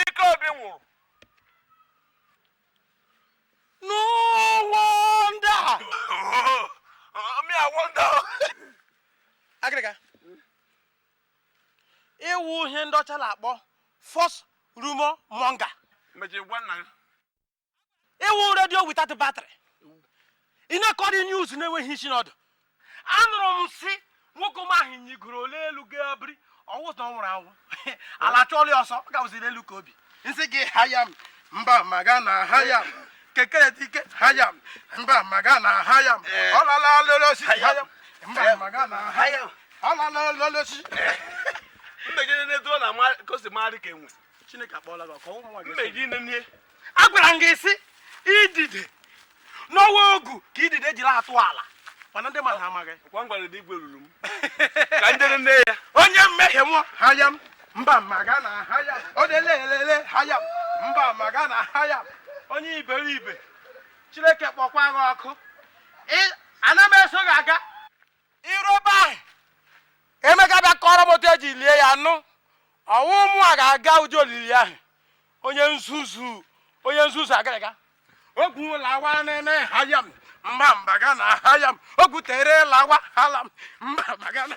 ike obi nwụrụ agiriga ị wụ ihe ndị ọcha na-akpọ false rumour monger ị wụ radio without battery ị na-akọrị news na-enweghị isi na ọdụ anụrụ m sị nwoke m ahụ nyigoro n'elu gaa biri ọ wụ na ọ nwụrụ anwụ ala chụọlụ ya ọsọ ọ gawaziri elu ikeobi nsị gị ha ya mba ma ga na ha ya kekere dike ha ya mba ma ga na ha ya ọ lala lele osisi ha ya mba ma ga na ha ya ọ lala lele osisi mmegide na-edu ọ na-ama ka o si marị ka enwe Chineke akpọọla gị ọkụ ụmụ gị. Agwara m gị sị idide na ọ wụ ogu ka idide jiri atụ ala mana ndị mmadụ amaghị. Kwa ngwara dị igwe ruru m. Ka ndị nne ya. Onye mmehie mụọ ha ya m. Mba maga na ha ya. Ọ na-ele elele ha ya. Mba maga na ha ya. Onye iberibe. Chineke kpọkwa gị ọkụ. Ana m eso gị aga. i ruo ebe ahụ emechaa bịa kọọrọ m otu e ji lie ya nụ ọ wụ mụ a ga-aga ụdị olili ahụ onye nzuzu onye nzuzu agiriga ogwu lawa nne ha ya m mba mba ga na ha ya m ogwu tere lawa ha la m mba mba ga na